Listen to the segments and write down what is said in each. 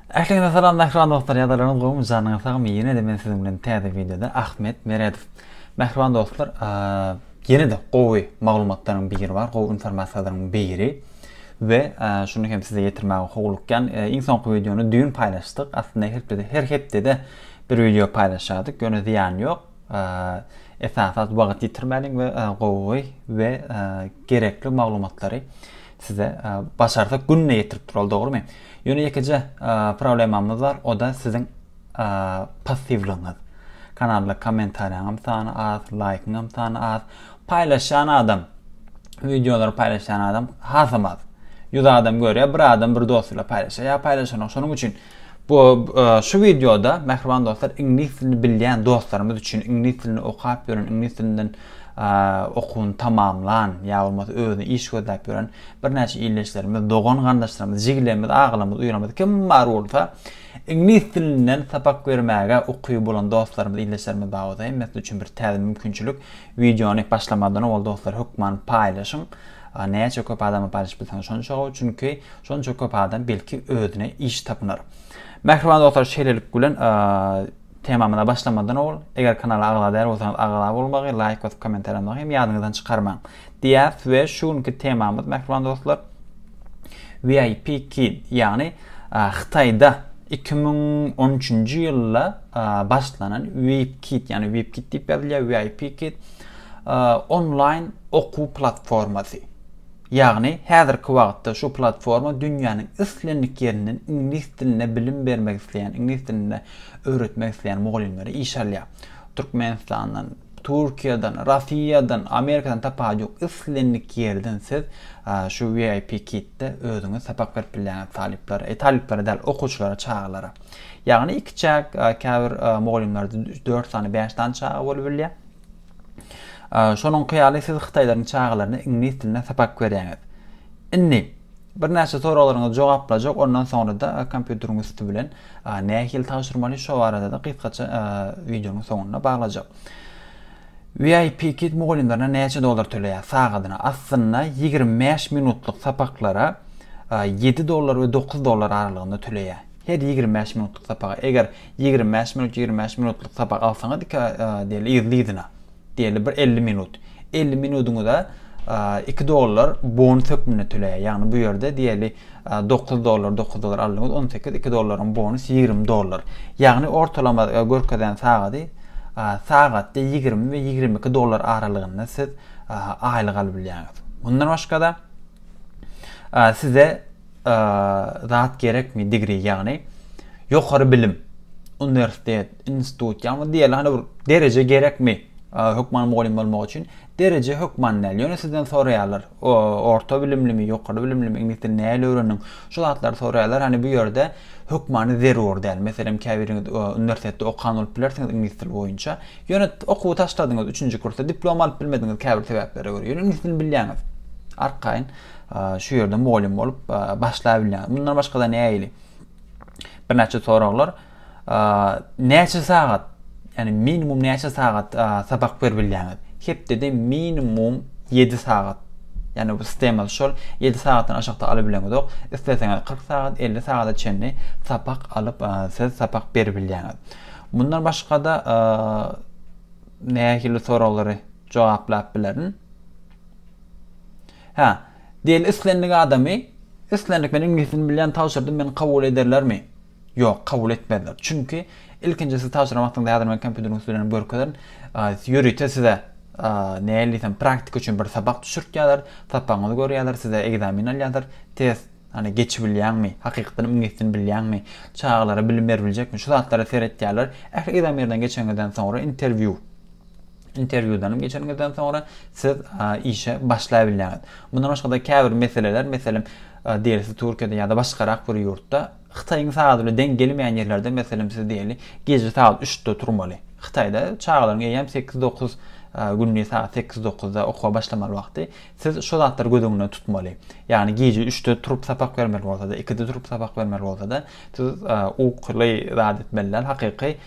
Ähliňize salam mähriban dostlar ýadalaryňyz gowmy janyňyz sagmy ýene-de men siziň bilen täze wideoda Ahmet Meredow. Mähriban dostlar ýene-de gowy maglumatlaryň biri bar gowy informasiýalaryň biri we şuny hem size ýetirmäge howlukýan iň soňky wideony düýn paýlaşdyk aslynda her hepdede bir wideo paýlaşýardyk ýöne zyýany ýok Esasan zat wagt ýitirmäliň we gowy we gerekli maglumatlary size başarsa günde ýetirip duraldy dogrymy? Ýöne ýekeje problemamyz bar o da siziň passiwligiňiz. Kanalda kommentariýaňam sany az, laýkyňam sany az. Paýlaşýan adam wideolary paýlaşýan adam hasamaz. 100 adam görýär, bir adam bir dost bilen paýlaşýar. Ýa paýlaşanok. Şonuň üçin Bu şu wideoda mähriban dostlar iňlis dilini bilýän dostlarymyz üçin iňlis dilini okap ýören iňlis dilinden okuwyny tamamlan ýa bolmasa özüne iş gözläp ýören birnäçe ildeşlerimiz dogan garyndaşlarymyz jigilerimiz agalarymyz uýalarymyz kim bar bolsa iňlis dilinden sapak bermäge ukyby bolan dostlarymyz ildeşlerimiz bar bolsa hemmesi üçin bir täze mümkinçilik Wideony başlamazdan owal dostlar hökman paýlaşyň. Näçe köp adama paýlaşyp bilseňiz şonça gowy, çünki şonça köp adam belki özüne iş tapynar. Mähriban dostlar şeýlelik bilen temamyza başlamazdan owal, eger kanala agza däl bolsaňyz agza bolmagy, laýk basyp kommentariýa ýazmagy hem ýadyňyzdan çykarmaň. Diýäs we şu günki temamyz mähriban dostlar VIP Kid, ýagny Hytaýda 2013-nji ýylda başlanan WeIpKit, ýagny WeIpKit diýip ýazylýar, WeIpKit, onlaýn okuw platformasy. Ýagny, häzirki wagtda şu platforma dünýäniň islendik ýerinden iňlis dilinde bilim bermek isleýän, iňlis dilinde öwretmek isleýän mugallymlary işe alýar. Türkmenistandan, Türkiýeden, Russiýadan, Amerikadan tapawudy ýok, islendik ýerden siz şu WeIpKitde özüňiz sapak berip bilýäňiz talyplara, talyplara däl, okuwçylara, çagalara. Ýagny iki çäk, käbir mugallymlarda dört sany, bäş sany çaga bolup bilýär. Şonuňky ýaly siz hytaýlaryň çagalaryna iňlis dilinde sapak berýäňiz. Indi birnäçe soraglaryňyzy jogaplajak, ondan soňra-da kompýuteriň üsti bilen nähili tabşyrmaly şo barada-da gysgaça wideonyň soňunda baglajak. VIP Kid mugallymlaryna näçe dollar töleýär sagadyna? Aslynda ýigrimi bäş minutlyk sapaklara ýedi dollar we dokuz dollar aralygynda töleýär. Her ýigrimi bäş minutlyk sapaga, eger ýigrimi bäş minut, ýigrimi bäş minutlyk sapak alsaňyz, iki diýeli yzly-yzyna, diýeli bir elli minut. Elli minudyňyza iki dollar bonus hökmünde töleýär. Ýagny bu ýerde diýeli dokuz dollar, dokuz dollar aldyňyz, on sekiz, iki dollaryň bonus ýigrimi dollar. Ýagny ortalama görkezen sagady sagatda ýigrimi we ýigrimi iki dollar aralygynda siz aýlyk alyp bilýäňiz. Mundan başga-da size zat gerekmi degree ýagny ýokary bilim uniwersitet institut ýagny diýeli hany bir dereje gerekmi hökman mugallym bolmak üçin dereje hökman näl ýöne sizden soraýarlar orta bilimlimi ýokary bilimlimi iňlis dilini näl öwrendiň şu zatlary soraýarlar hany bu ýerde hökmany zerur däl meselem käbiriňiz uniwersitetde okan bolup bilersiňiz iňlis dili boýunça ýöne okuwy taşladyňyz üçünji kursda diplom alyp bilmediňiz käbir sebäplere görä ýöne iňlis dilini bilýäňiz arkaýyn Şu ýerde mugallym bolup başlabilýäňiz. Mundan başga-da näili? Birnäçe soraglar. Näçe sagat, ýani minimum näçe sagat sapak beribilýäňiz? Hepdede minimum 7 sagat. Ýani bu sistema şol 7 sagatdan aşakda alabileňizok. Isleseňiz 40 sagat, 50 sagada çenli sapak alyp, siz sapak beribilýäňiz. Mundan başga-da nähili soraglary jogaplap bilerin? Hä, diýeli islendik adamy, islendik men iňlisini bilýän tabşyrdym meni kabul ederlermi? Ýok, kabul etmezler. Çünki ilkinji siz tabşyran wagtyňyzda häzir men kompýuteriň üstünden görkezerin. Ýörite size nähili diýsem praktika üçin bir sapak düşürtýärler, sapagyňyzy görýärler, size ekzamen alýarlar, test Hani geçibilýäňmi? Hakykatdan iňlisini bilýäňmi? Çagalara bilim beribiljekmi? Şu zatlara seretýärler. Ähli ekzamenlerden geçeniňizden soňra interwýu. Interwýudan geçeniňizden soňra siz işe başlaýbilýäňiz. Mundan başga-da käbir meseleler, meselem, diýeli siz Türkiýede ýa-da başgarak bir ýurtda Hytaýyň sagat bilen deň gelmeýän ýerlerde, meselem, siz diýeli gije sagat üçde turmaly. Hytaýda çagalaryň eýýäm sekiz-dokuz gündiz sagat sekiz-dokuzda okuwa başlamaly wagty. Siz şu zatlary göz öňünde tutmaly. Ýagny gije üçde turup sapak bermeli bolsa-da, ikide turup sapak bermeli bolsa-da, siz ukyly zat etmeli däl, hakyky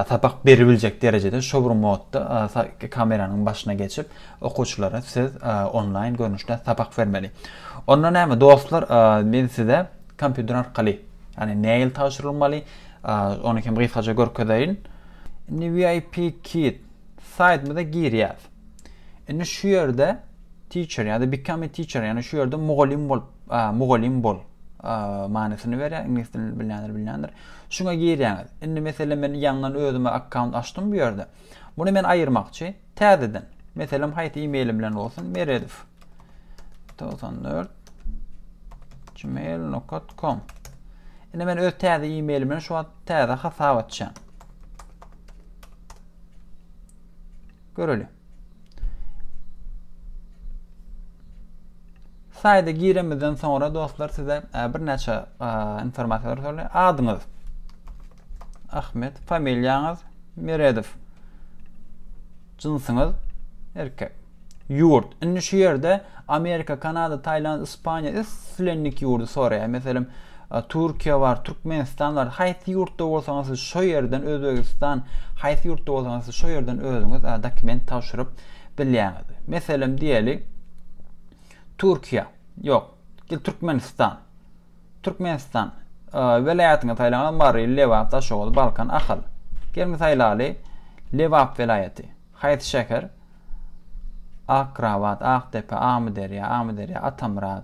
sapak beribiljek derejede şou bir modda kameranyň başyna geçip, okuwçylara siz onlaýn görnüşde sapak bermeli. Onda näme dostlar, men size kompýuter arkaly, ýagny nähili tabşyrylmaly, ony hem gysgaça görkezeýin. Indi VIP Kit saýtymyza girýäs. Indi şu ýerde teacher ýa-da become a teacher, ýagny şu ýerde mugallym bol, mugallym bol manysyny berýär, iňlis dilini bilýänler bilýändir. Şuňa girýäňiz. Indi meselem men ýaňdan özüme akkaunt açdym bu ýerde. Muny men aýyrmakçy täzeden. Meselem haýsy e-mail bilen bolsun, meredow 94 gmail.com. Indi men öz täze e-mail bilen şu wagt täze hasap açýan. Göreli. Saýda giremizden soňra dostlar size e, bir näçe e, informasiýalar sorulýar. Adyňyz Ahmet, familiýaňyz Meredow. Jynsyňyz erkek. Ýurt. Indi şu ýerde Amerika, Kanada, Taýland, Ispaniýa islendik ýurdy soraýar. Meselem, Türkiýe bar, Türkmenistan bar. Haýsy ýurtda bolsaňyz siz şo ýerden Özbegistan, haýsy ýurtda bolsaňyz siz şo ýerden özüňiz dokument tabşyryp bilýäňiz. Meselem diýeli Türkiýe, ýok, gel Türkmenistan. Türkmenistan welaýatyňy saýlaňyz, Mary, Lebap, Daşoguz, Balkan, Ahal. Gelin saýlaly Lebap welaýaty. Haýsy şäher? Akrabat, Akdepe, Amyderýa, Amyderýa, Atamyrat.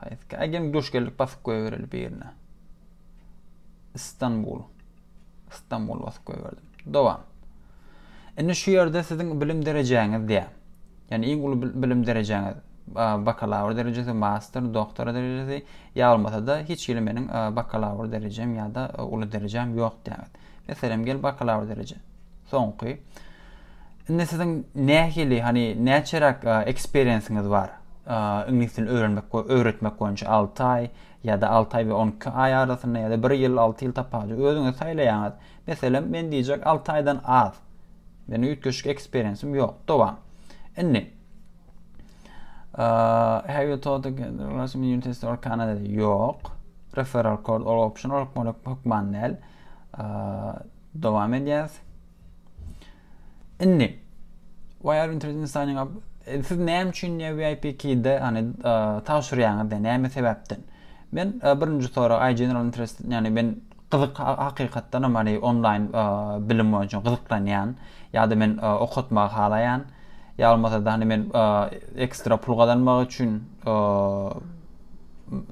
Haýsy ägem duş geldik basyp goýbereli birine. Istanbul. Istanbul basyp goýberdim. Dowam. Indi şu ýerde siziň bilim derejäňiz diýä. Ýani iň uly bilim derejäňiz bakalawr derejesi, master, doktor derejesi ýa bolmasa-da hiç hili meniň bakalawr derejem ýa-da uly derejem ýok diýäňiz. Meselem, gel bakalawr dereje. Soňky. Indi siziň nähili, hani näçeräk eksperiensiňiz bar? Iňlis dilini öwrenmek we öwretmek boýunça 6 aý ýa-da 6 aý we 12 aý arasynda ýa-da 1 ýyl, 6 ýyl tapawudy özüňiz saýlaýaňyz. Meselem, men diýjek 6 aýdan az. Meniň üýtgeşik eksperiensim ýok. Dowam. Indi have you taught the Russian University or Canada? Ýok. Referral code or option or hökman däl. Dowam edýäs. Indi Wire Internet Signing Up e, siz näme üçin VIP keyde hani tabşyrýaňyz da näme sebäpden? Men e, birinji sorag I general interest yani men gyzyk hakykatdan hem hani online e, bilim boýunça gyzyklanýan ýa-da men e, okatmagy halaýan ýa bolmasa da hani men e, ekstra pul gazanmak üçin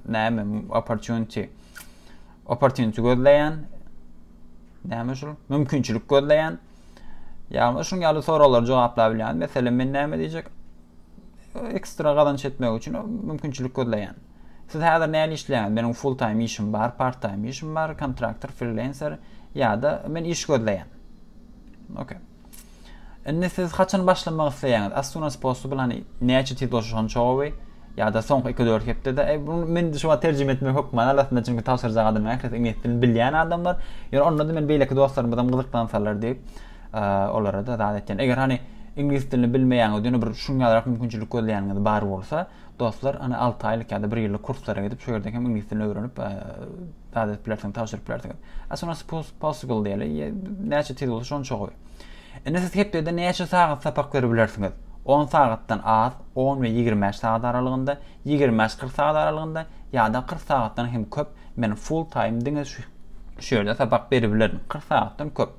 näme opportunity Opportunity gözleýän. Näme şul? Mümkinçilik gözleýän. Ýagny şuň ýaly soraglary jogaplap bilýän. Meselem men näme diýjek? Ekstra gazanç etmek üçin mümkinçilik gözleýän. Siz häzir näme işleýäňiz? Meniň full time işim bar, part time işim bar, kontraktor, freelancer ýa-da men iş gözleýän. Okay. Indi siz haçan başlamak isleýäňiz? As soon as possible hani näçe tiz bolsa şonça gowy. Ýa-da soňky 2-4 hepdede. E, bunu men şu wagt terjime etmek hökmany alasynda çünki tabşyrjak adamlar ählisi iňlis dilini bilýän adamlar. Ýöne onda-da men beýleki dostlarymyz hem gyzyklansalar diýip, e, olara da zat etýän. Eger hani iňlis dilini bilmeýäňiz, ýöne bir şuň ýalyrak mümkinçilik gözleýäniňiz bar bolsa, dostlar, hani 6 aýlyk ýa-da 1 ýyllyk kurslara gidip, şu ýerde hem iňlis dilini öwrenip, e, zat edip bilersiňiz, tabşyryp bilersiňiz. As soon as possible diýeli. Näçe tiz bolsa şonça gowy. Indi siz hepdede näçe sagat sapak berip bilersiňiz? 10 sagatdan az, 10 we 25 sagat aralygynda, 25-40 sagat aralygynda ýa-da 40 sagatdan hem köp. Men full time diňe şu ýerde sapak berip bilerin. 40 sagatdan köp.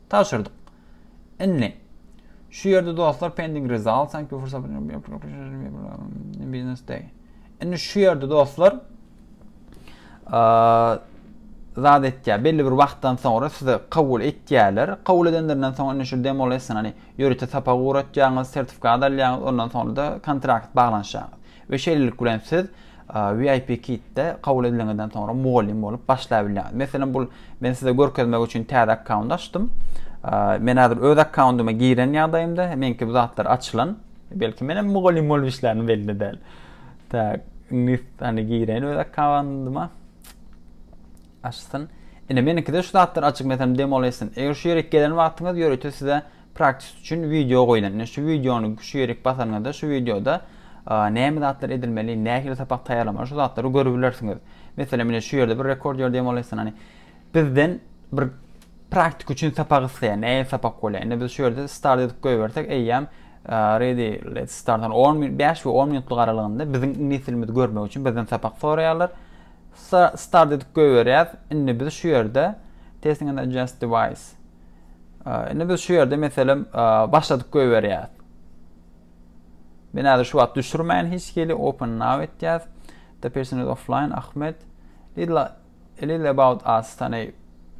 Tabşyrdyk. Indi. Şu ýerde dostlar pending result thank you for subscribing business day. Indi şu ýerde dostlar zat etýär. Belli bir wagtdan soňra size kabul etýärler. Kabul edenlerinden soň indi şu demo lesson hani ýörite sapak ugratýaňyz, sertifikat alýaňyz, ondan soňra da kontrakt baglanyşýaňyz. We şeýlelik bilen siz VIP Kit-de kabul ediliňizden soňra mugallym bolup başlaýbilýäňiz. Meselem bul men size görkezmek üçin täze akkaunt açdym. Men häzir öz akkauntyma giren ýagdaýymda meňki bu zatlar açylan. Belki men hem mugallym bolup işlärin belli däl. Tak, indi hani giren öz akkauntyma. Açsyn. Ine meniňkide şu zatlar açyk meselem demo lesson. Eger şu ýere gelen wagtyňyz ýörite size Praktis üçin wideo goýlan. Ine şu wideony şu ýerik basaňyzda şu wideoda näme zatlar edilmeli, nähili sapak taýýarlamaly şu zatlary görübilersiňiz. Meselem ine şu ýerde bir rekord ýör diýen bolaýsyn hany. Bizden bir praktik üçin sapak isleýär. Nähili sapak bolýar. Ine biz şu ýerde start edip goýbersek eýýäm ready let's start 10 minut 5 we 10 minutlyk aralygynda biziň iňlis dilimizi görmek üçin bizden sapak soraýarlar. Start edip goýberýäs. Indi biz şu ýerde testing and adjust device Indi biz şu ýerde meselem başladyk goýberýäs. Men häzir şu wagt düşürmäýin hiç hili open now etýäs. The person is offline Ahmed. Little, a little about us. Tani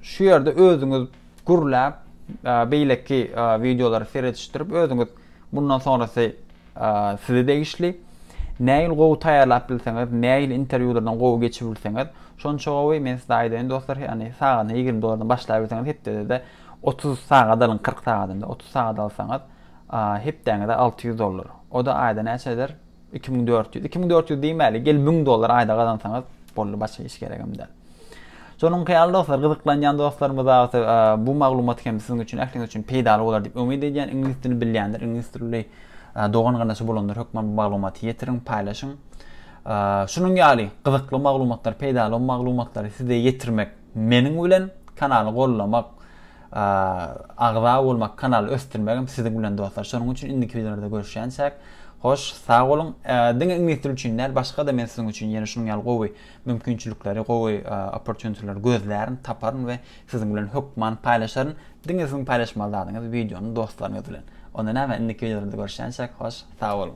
şu ýerde özüňiz gürläp beýleki videolary seredişdirip özüňiz Mundan sonrasy size degişli. Nähili gowy taýýarlap bilseňiz, nähili interwýulardan gowy geçip bilseňiz, şonça gowy. Men size aýdaýyn dostlar, ýagny sagadyna ýigrimi dollardan başlaýbilseňiz, hepdede-de otuz sagat alyň, kyrk sagadam däl, otuz sagat alsaňyz, hepdäňize alty ýüz dollar. O-da aýda näçe eder? Iki müň dört ýüz. Iki müň dört ýüz diýmäli, gel müň dollar aýda gazansaňyz, boldy, başga hiç geregem däl. Şonuň hyýaly dostlar, gyzyklanýan dostlarymyz agty e, bu maglumat hem siziň üçin, ähliňiz üçin peýdaly bolar diýip umyt edýän. Iňlis dilini bilýändir, iňlis dilli e, dogan gardaşy bolanlar hökman bu maglumaty ýetiriň, paýlaşyň. E, şunuň ýaly gyzykly maglumatlar, peýdaly maglumatlary size ýetirmek Meniň bilen kanaly gollamak agza bolmak kanaly ösdürmegim siziň bilen dostlar şonuň üçin indiki wideolarda görüşýänçäk hoş sag boluň diňe iňlis dili üçin däl başga da men siziň üçin ýene şunuň ýaly gowy mümkinçilikleri gowy opportunityleri gözlärin taparyn we siziň bilen hökman paýlaşaryn diňe siziň paýlaşmaly zadyňyz wideony dostlaryňyz bilen onda näme indiki wideolarda görüşýänçäk hoş sag boluň